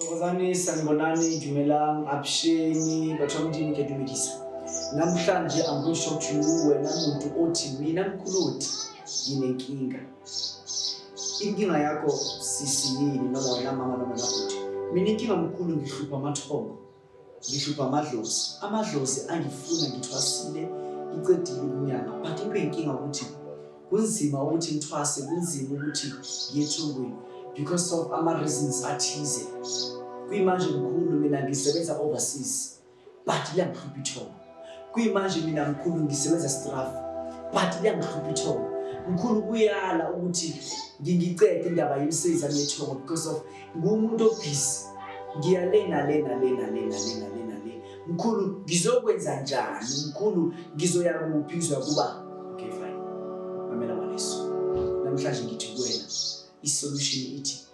Thokozani, sanibonani, dumelang, absheni, batho ba Modimo ke dumedisa. Namhlanje I'm going to show to you wena muntu othi mina mkhuludi nginenkinga. inkinga yakho sisiyini noma wena mama noma nakuthi mina inkinga mkhulu ngihlupha amathongo ngihlupha amadlozi amadlozi angifuna ngithwasile ngicedile ukunyanga but into enkinga ukuthi kunzima ukuthi ngithwase kunzima ukuthi ngiyethungweni because of ama-reasons athize kuyimanje mkhulu mina ngisebenza overseas but liyangihlupha ithongo kuyimanje mina mkhulu ngisebenza straff but liyangihlupha ithongo mkhulu kuyala ukuthi ngingicede indaba yemisebenzi yami yethongo because of nguwumuntu obhizi ngiyalena lena lena lena lena lena le mkhulu ngizokwenza njani mkhulu ngizoya kuphi ngizoya kuba okay fine mamela waneso namhlanje ngithi kuwena isolution ithi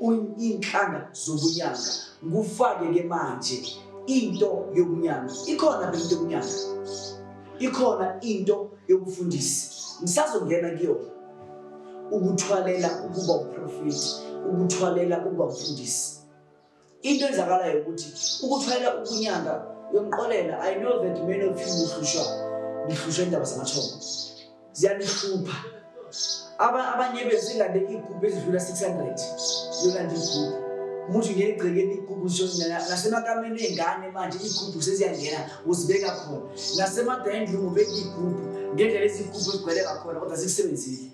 iy'nhlanga zokunyanga kufake-ke manje into yokunyanga ikhona ke into yokunyanga ikhona into yokufundisa ngisazongena kuyona ukuthwalela ukuba uprofethi ukuthwalela ukuba mfundisi into enzakalayo ukuthi ukuthwalela ukunyanga yomqolela i know that many of you uhlushwa ngihlushwa indaba zamathongo ziyanihlupha abanye bethu ilande igubhu edlula 600 yolanda igubhu umuntu ngeke egcekeni igubhu nasemakameni ey'ngane manje igubhu seziyangena uzibeka khona nasemadayindlini ubeka igubhu ngendlela ezigubhu ezigcwele ngakhona kodwa zikusebenzile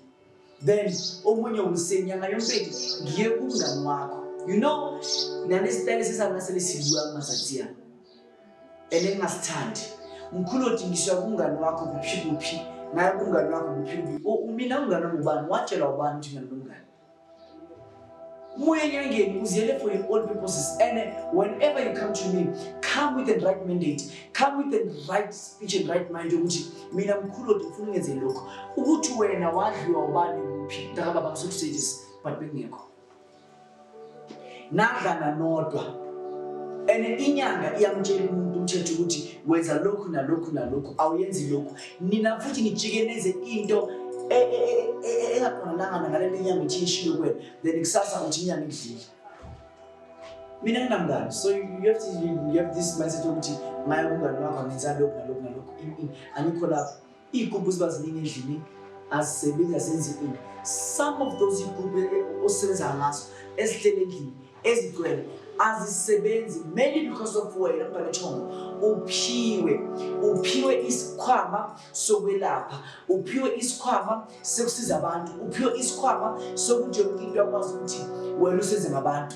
then omunye umsenyanga yompeki ngiye kumngani wakho you know nalesitayile sesabona selesiziwa kumazathiyana elengingasithandi mkhulu odingiswa kumngani wakho kuphi kuphi ngaye kumngani wakho kuphi kuphi umina umngani wami ubani watshelwa ubani ukuthi mina nomngani moya enyangeni uziyele for your own purposes and whenever you come to me come with the right mandate come with the right speech and right mind yokuthi mina mkhulu odi ngifuna ungenze lokho ukuthi wena wadliwa ubani kuphi mntakababa ngisokusetshisa but bengekho nadlana nodwa and inyanga iyamtshela umuntu umthetho ukuthi wenza lokhu nalokhu nalokhu awuyenzi lokhu nina futhi nijike nenze into e, e, e, engaqondanga ngale nto inyanga ithi ishilo kwena then kusasa uthi inyanga idlile mina nginamngani so you have, to, you have this mindset yokuthi ngaye umngani wakho angenza lokhu nalokhu nalokhu angikho lapho Iy'gubhu ziba ziningi endlini azisebenzi azenzi into some of those iy'gubhu e, osebenza ngazo ezihlele endlini ezigcwele azisebenzi mainly because of wena mbanethongo uphiwe uphiwe isikhwama sokwelapha uphiwe isikhwama sokusiza abantu uphiwe isikhwama sokuthi yonke into akwazi ukuthi wena usenze ngabantu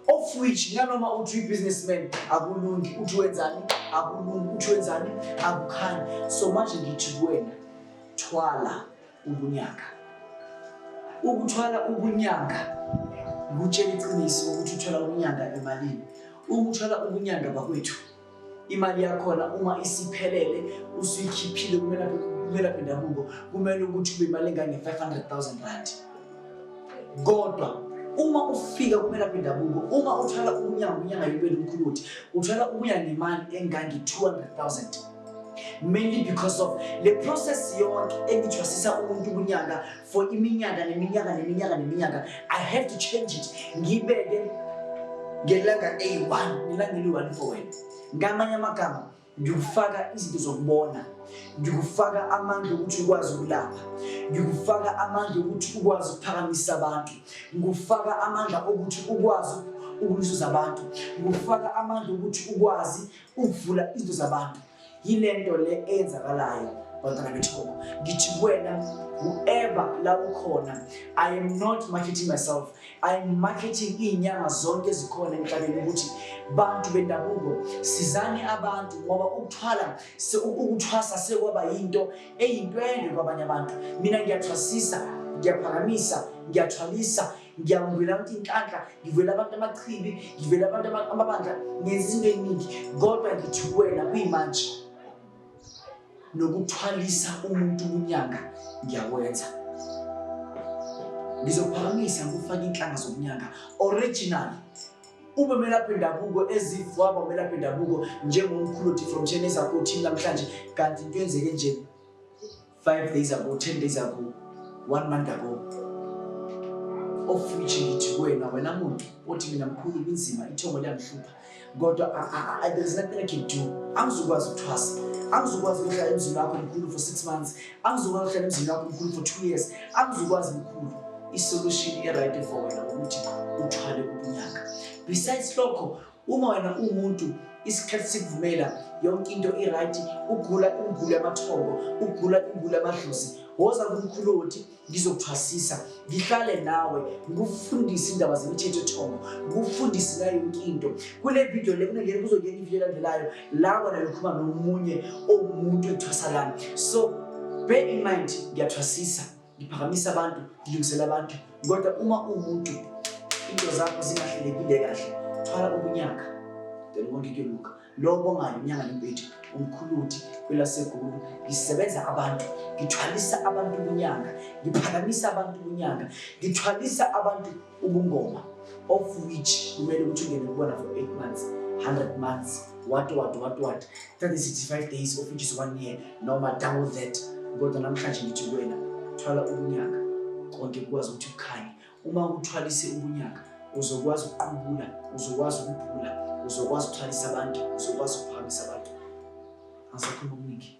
of which nanoma uthi uyi-businessman akulungi uthi wenzani akulungi uthi wenzani akukhanyi so manje ngithi kuwena thwala ubunyanga ukuthwala ubunyanga kutshela iqiniso ukuthi uthwala ubunyanga emalini ukuthwala ubunyanga bakwethu imali yakhona uma isiphelele usuyikhiphile kumelaphi ndabuko kumele ukuthi ube imali engange-500 000 rand kodwa uma ufika kumelaphi ndabuko uma uthwala umnyango unyanga yobeli umkhulu ukuthi uthwala ubuya nemali engange-200 000 mainly because of le process yonke engithwasisa umuntu kunyaka for iminyaka neminyaka neminyaka neminyaka i have to change it ngibeke ngelanga a1 ngelanga eli-1 for wena ngamanye amagama ngikufaka izinto zokubona ngikufaka amandla ukuthi ukwazi ukulapha ngikufaka amandla ukuthi ukwazi ukuphakamisa abantu ngikufaka amandla okuthi ukwazi ukulisiza abantu ngikufaka amandla ukuthi ukwazi ukuvula izinto zabantu yile nto le eyenzakalayo bantwana bethoba ngithi kuwena whoever la ukhona i am not marketing myself i am marketing iy'nyanga zonke ezikhona emhlabeni ukuthi bantu bendabuko sizani abantu ngoba ukuthwala ukuthwasa sekwaba yinto eyintwende kwabanye abantu mina ngiyathwasisa ngiyaphakamisa ngiyathwalisa ngiyakuvela ukuthi inhlanhla ngivela abantu amachibi ngivela abantu amabandla ngenza into eningi kodwa ngithi wena kuyimanje nokuthwalisa umuntu ubunyanga ngiyakwenza ngizophakamisa ngokufaka inhlanga zobunyanga original ube melaphi ndabuko ezivwaba umelaphi ndabuko njengomkhulu othi from chenesa kothini namhlanje kanti into yenzeke njeni Five days ago, ten days ago, one month ago. Of which ngithi kuwena wena muntu othi mina mkhulu kunzima ithongo liyangihlupha kodwa there is nothing I can do. Angizokwazi ukuthwasa. Angizokwazi ukuhlala emzini wakho mkhulu for six months. Angizokwazi ukuhlala emzini wakho mkhulu for two years. Angizokwazi mkhulu. I-solution e-right for wena ukuthi uthwale ubunyaka. Besides lokho Uma wena uwumuntu isikhathi sikuvumela yonke into i-right ugula imigulo yamathongo ugula imigulo yamadlozi woza kumkhuloti ngizokuthwasisa ngihlale nawe ngikufundise indaba zemithetho ethongo ngikufundise ngayo yonke into kule vidiyo le kunengene kuzongena ividiyo elandelayo la wena lokhuluma nomunye owumuntu ethwasalana so bear in mind ngiyathwasisa ngiphakamisa abantu ngilungisela abantu kodwa uma uwumuntu into zakho zingahlelekile kahle thwala ubunyaka then konke kuyoluka lowo bongayo unyanga nempethu umkhuluthi kwelasegulu ngisebenza abantu ngithwalisa abantu ubunyanga ngiphakamisa abantu ubunyanga ngithwalisa abantu ubungoma of which kumele ukuthi ungene kubona for eight months 100 months what what what what 365 days of which is one year noma double that kodwa namhlanje ngithi kuwena thwala ubunyaka konke kukwazi ukuthi kukhanye uma uthwalise ubunyaka uzokwazi ukuqubula uzokwazi ukuphula uzokwazi ukuthwalisa abantu uzokwazi ukuphakamisa abantu angisakhuluma okuningi